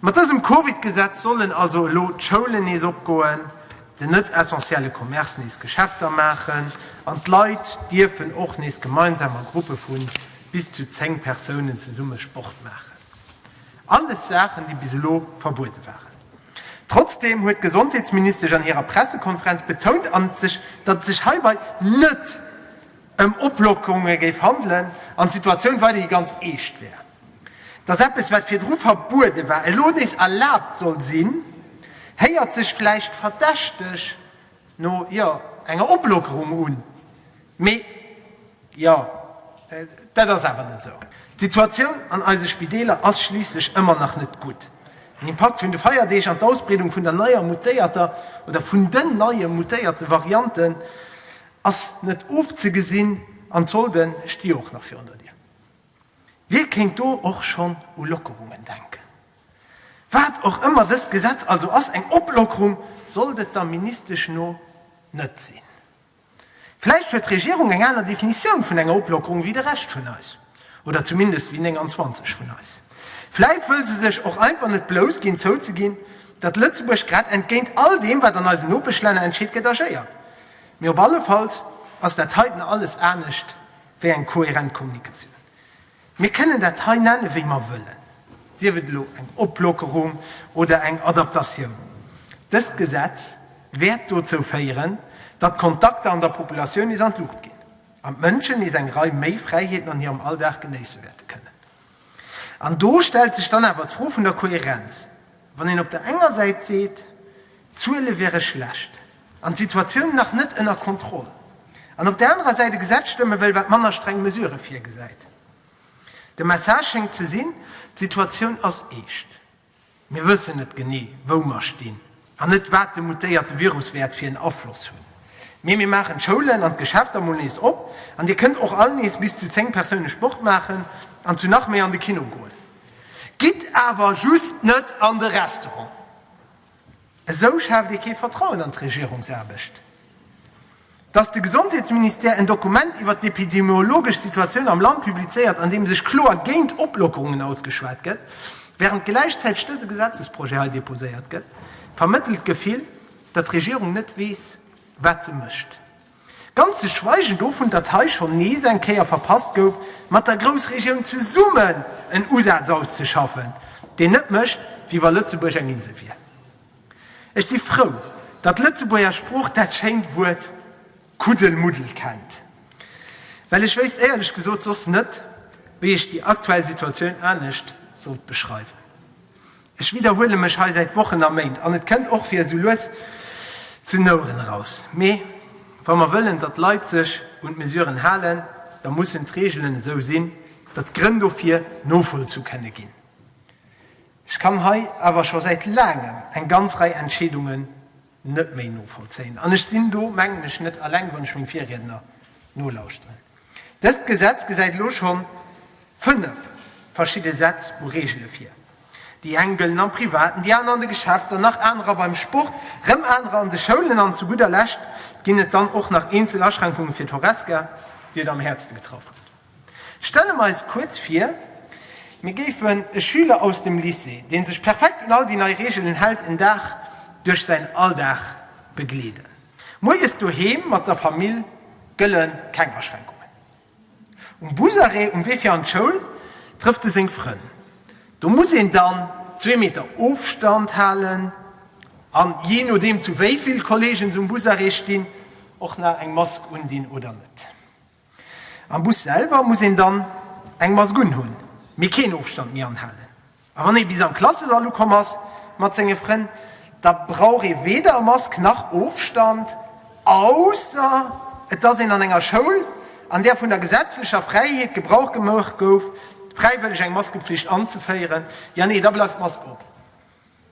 Mat dësem Covid-Gesetz sollen also elo d'Schoulen nees opgoen, den net essentielle Commerce nees Geschäfter maachen an d'Leit dierfen och nees gemeinsam a Gruppe vu bis zu 10 Persounen zesumme Sport maachen. Alles Saachen, déi bis elo verbuede waren. Trotzdeem huet d'Gesondheetsministesch an hirer Pressekonferenz betount, datt et sech heibai net ëm Oplockerunge géif handelen an d'Situatioun weiderhi ganz eescht wär. Dass eppes, wat virdru verbuede war, elo nees erlaabt soll sinn, héiert sech vläicht verdächteg no, jo, enger Oplockerung un, mee, jo, dat ass awer net esou. D'Situatioun an eise Spideeler ass schliisslech ëmmer nach net gutt. Den Impakt vun de Feierdeeg an d'Ausbreedung vun der neier mutéierter oder vun den neie mutéierte Varianten ass net ofzegesinn an d'Solde sti jo och nach virun der Dier. Wie kéint do och schonn u Lockerungen denken? Wat och ëmmer dëst Gesetz also ass, eng Oplockerung sollt et der Ministesch no net sinn. Vläicht huet d'Regierung eng aner Definitioun vun enger Oplockerung wéi de Rescht vun eis, oder zumindest wéi 29 vun eis. Vläicht wëll se sech och einfach net blouss ginn zouzeginn, datt Lëtzebuerg grad entgéint all deem, wat an eisen Nopeschlänner entscheet gëtt, agéiert. Mee op allefalls ass dat heiten alles anescht. wéi eng kohärent Kommunikatioun. Mir kënnen dat hei nennen, wéi mer wëllen, sief et elo eng Oplockerung oder eng Adaptatioun. Dëst Gesetz wäert dozou féieren, datt d'Kontakter an der Populatioun nees an d'Luucht ginn an d'Mënschen nees eng Rei méi Fräiheeten an hirem Alldag genéisse wäerte kënnen. An do stellt sech dann awer d'Fro vun der Kohärenz. Wann een op der enger Säit seet, d'Zuele wäre schlecht an d'Situatioun nach net ënner Kontroll, an op der anerer Säit e Gesetz stëmme wëll, wat manner streng Mesurë virgesäit. De Message schéngt ze sinn, D'Situatioun ass eescht. Mir wëssen net genee, wou mer stinn, an net, wat de mutéierte Virus wäert fir en Afloss hunn. Mee mir maachen d'Schoulen an d'Geschäfter mol nees op, an Dir kënnt och all nees bis zu 10 Persoune Sport maachen an zu nach méi an de Kino goen. Gitt awer just net an de Restaurant, esou schaaft ee kee Vertrauen an d'Regierungsaarbecht. Datt de Gesondheetsministère en Dokument iwwer d'epidemiologesch Situatioun am Land publizéiert, an deem sech kloer géint Oplockerungen ausgeschwat gëtt, wärend gläichzäiteg dëse Gesetzesprojet hei deposéiert gëtt, vermëttelt d'Gefill, datt d'Regierung net weess, wat se mécht. Ganz ze schweigen dovun, datt hei schonn nees eng Kéier verpasst gouf, mat der Groussregioun zesummen en Usaz auszeschaffen, deen net mécht, wéi wa Lëtzebuerg eng Insel wier. Ech si frou, datt d'Lëtzebuerger Sprooch dat schéint Wuert Kuddelmuddel kennt, well ech wéisst éierlech gesot soss net, wéi ech déi aktuell Situatioun anescht sollt beschreiwen. Ech widderhuele mech hei säit Wochen a Méint an et kënnt och fir esou lues zu Nouren eraus, mee wa mer wëllen, datt d'Leit sech un d'Mesuren halen, da mussen d'Reegelen esou sinn, datt d'Grënn dofir novollzu kënne ginn. Ech kann hei awer scho säit laangem eng ganz Rei Entscheedunge net méi novollzéien. An ech sinn do, mengen ech, net eleng, wann ech meng Virriedner nolauschteren. Dëst Gesetz gesäit elo scho fënnef verschidde Sätz u Reegele vir. Déi eng gëllen am Privaten, déi aner an de Geschäfter, nach anerer beim Sport, rëm anerer an de Schoulen an zu gudder Lescht ginn et dann och nach eenzel Aschränkunge fir d'Horesca, déi et am häertste getraff huet. Stelle mer eis kuerz vir, mir géifen e Schüler aus dem Lycée, dee sech perfekt un all déi nei Reegelen hält, en Dag duerch säin Alldag begleeden. Moies doheem mat der Famill gëlle keng Aschränkungen. Um Busarrêt um Wee fir an d'Schoul trëfft e seng Frënn. Do muss een dann zwee Meter Ofstand halen a jee nodeem zu wéi vill Kolleegen se um Busarrêt stinn, och nach eng Mask undinn oder net. Am Bus selwer muss een dann eng Mask unhunn, mee keen Ofstand méi anhalen. A wann ee bis am Klassesall ukomm ass mat senge Frënn, da brauch ee weder Mask nach Ofstand, ausser et ass een an enger Schoul, an där vun der gesetzlecher Fräiheet Gebrauch gemaach gouf, fräiwëlleg eng Maskepflicht anzeféieren. Jo, nee, da bleift d'Mask op.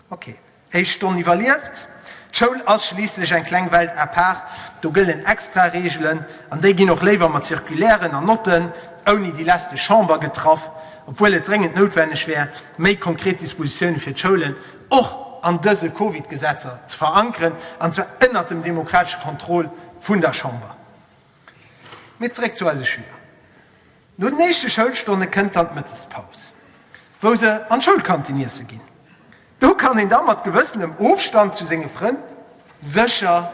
Ok, éischt Stonn iwwerlieft. D'Schoul ass schliisslech eng kleng Welt à part, do gëllen extra Reegelen an déi ginn och léiwer mat Circulairen an Notten ouni déi lästeg Chamber getraff, obwuel et dréngend noutwenneg wär, méi konkret Dispositioune fir d'Schoulen och an dëse Covid-Gesetzer ze verankeren, an zwar ënnert dem demokratesche Contrôle vun der Chamber. Mee zeréck zu eise Schüler. No den éischte Schoulstonne kënnt dann d'Mëttespaus, wou se an d'Schoulkantin iesse ginn. Do kann een da mat gewëssenem Ofstand zu senge Frënn sécher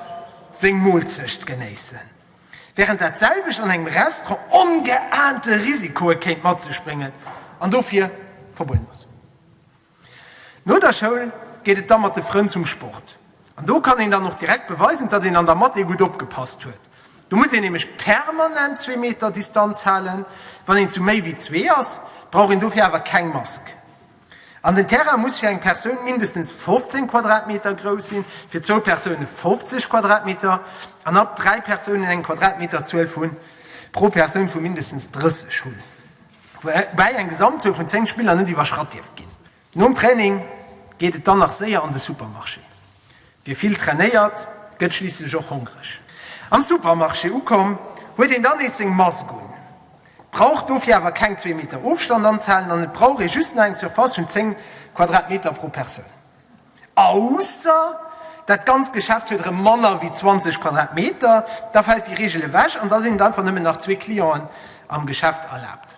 seng Moolzecht genéissen, wärend dat selwecht an engem Restaurant ongeaante Risikoe kéint mat sech bréngen an dofir verbueden ass. No der Schoul geet et da mat de Frënn zum Sport. An do kann een dann och direkt beweisen, datt een an der Mathé gutt opgepasst huet. Do muss een nämlech permanent zwee Meter Distanz halen. Wann een zu méi wéi zwee ass, brauch een dofir awer keng Mask. An den Terrain muss fir eng Persoun mindestens 15 Quadratmeter grouss sinn, fir zwou Persoune 50 Quadratmeter an ab dräi Persounen eng Quadratmeterzuel pro Persoun vu mindestens 30 hunn. woubäi eng Gesamtzuel vun 10 Spiller net iwwerschratt dierf ginn. Nom Training geet et dann nach séier an de Supermarché. Wie vill trainéiert, gëtt schliisslech och hongreg. Am Supermarché ukomm, huet een dann nees seng Mask un, brauch dofir awer keng zwee Meter Ofstand anzehalen an et brauch ee just nach eng Surface vun 10 Quadratmeter pro Persoun. Ausser dat ganzt Geschäft huet erëm manner wéi 20 Quadratmeter, da fält déi Reegel ewech an da sinn et einfach nëmmen nach zwee Clienten am Geschäft erlaabt.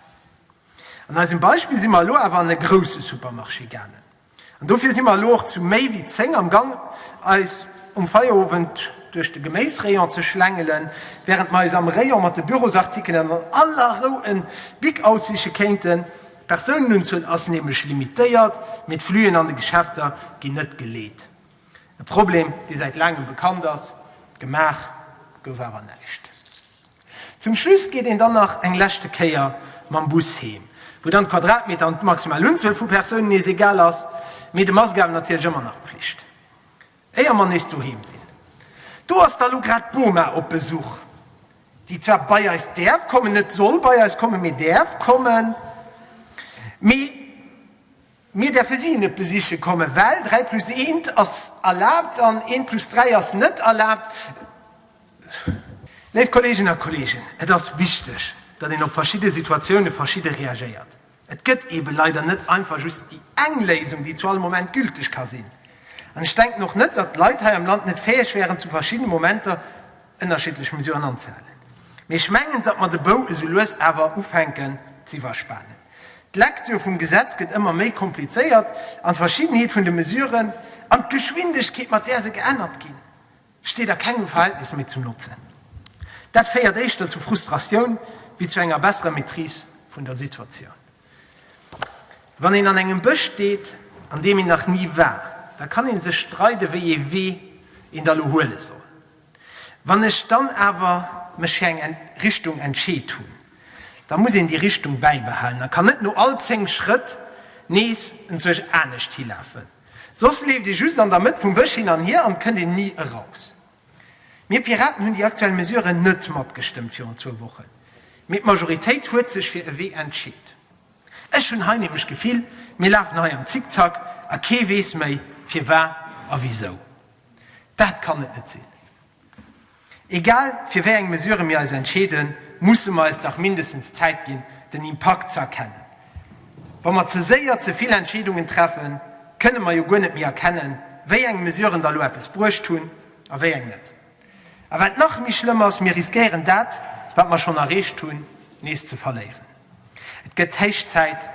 An eisem Beispill si mer elo awer an e grousse Supermarché gaangen an dofir si mer elo och zu méi wéi 10 am Gang eis um Feierowend duerch de Geméisrayon ze schlängelen, wärend mer eis am Rayon mat de Bürosartikelen an aller Rou en Bic aussiche kéinten. D'Persounenunzuel ass nämlech limitéiert, mee d'Fluen an de Geschäfter ginn net geleet. E Problem, dee säit laangem bekannt ass, gemaach gouf awer näischt. Zum Schluss geet een dann nach eng leschte Kéier mam Bus heem, wou dann d'Quadratmeter an d'maximal Unzuel vu Persounen nees egal ass, mee de Mask awer natierlech ëmmer nach Pflicht. Éier mer nees doheem sinn. Do ass da lo grad d'Boma op Besuch, déi zwar bei eis däerf kommen, net soll bei eis kommen, mee däerf kommen. Mee mir däerfe si net besiche kommen, well dräi plus eent ass erlaabt an eent plus dräi ass net erlaabt. Léif Kolleeginnen a Kolleegen, et ass wichteg, datt een op verschidde Situatioune verschidde reagéiert. Et gëtt eben leider net einfach just déi eng Léisung, déi zu all Moment gülteg ka sinn. An ech denken och net, datt d'Leit hei am Land net fäeg wären, zu verschiddene Momenter ënnerschiddlech Mesuren anzehalen. Mee ech mengen, datt mer de Bou esou lues awer ufänken z'iwwerspanen. D'Lektür vum Gesetz gëtt ëmmer méi komplizéiert an d'Verschiddenheet vun de Mesuren an d'Geschwindegkeet, mat där se geännert ginn, steet a kengem Verhältnis méi zum Notzen. Dat féiert éischter zu Frustratioun wéi zu enger besserer Maîtrise vun der Situatioun. Wann een an engem Bësch steet, an deem een nach ni war, da kann ee sech streiden, wéi ee Wee een da lo huele soll. Wann ech dann awer mech fir eng Richtung entscheet hunn, da muss een déi Richtung bäibehalen a kann net no all 10 Schrëtt nees enzwousch anescht hilafen. Soss leeft ee just an der Mëtt vum Bësch hin an hier an et kënnt een ni eraus. Mir Piraten hunn déi aktuell Mesuren net matgestëmmt virun zwou Wochen, mee d'Majoritéit huet sech fir e Wee entscheet. Ech hunn hei nämlech d'Gefill, mir lafen hei am Zickzack a kee weess méi firwar a wisou. Dat kann et net sinn. Egal fir wéi eng Mesure mir eis entscheeden, musse mer eis dach mindestens d'Zäit ginn, den Impakt ze erkennen. Wa mer ze séier ze vill Entscheedungen treffen, kënne mer jo guer net méi erkennen, wéi eng Mesuren da lo eppes bruecht hunn a wéi eng net. A wat nach méi schlëmm ass, mir riskéieren dat, wat mer schonn erreecht hunn, nees ze verléieren. Et gëtt héich Zäit,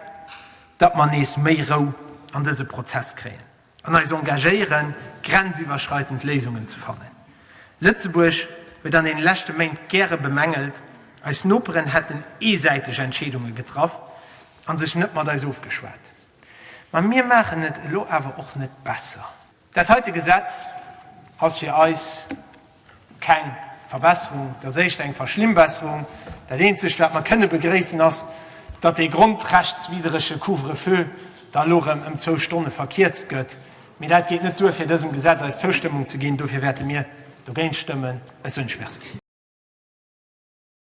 datt mer nees méi Rou an dëse Prozess kréien. an eis engagéieren, grenziwwerschreitend Léisungen ze fannen. Lëtzebuerg huet an den leschte Méint gäre bemängelt, eis Noperen hätten eesäiteg Entscheedunge getraff an sech net mat eis ofgeschwat. Ma mir maachen et elo awer och net besser. Dat heite Gesetz ass fir eis. Keng Verbesserung, dat ass éischter eng Verschlimmbesserung. Dat eenzegt, wat mer kënne begréissen, ass, datt dee grondrechtswidderege Couvre-feu da elo erëm ëm zwou Stonne verkierzt gëtt. Mee dat geet net duer, fir dësem Gesetz eis Zoustëmmung ze ginn. Dofir wäerte mir dogéint stëmmen. Ech soen Iech Merci.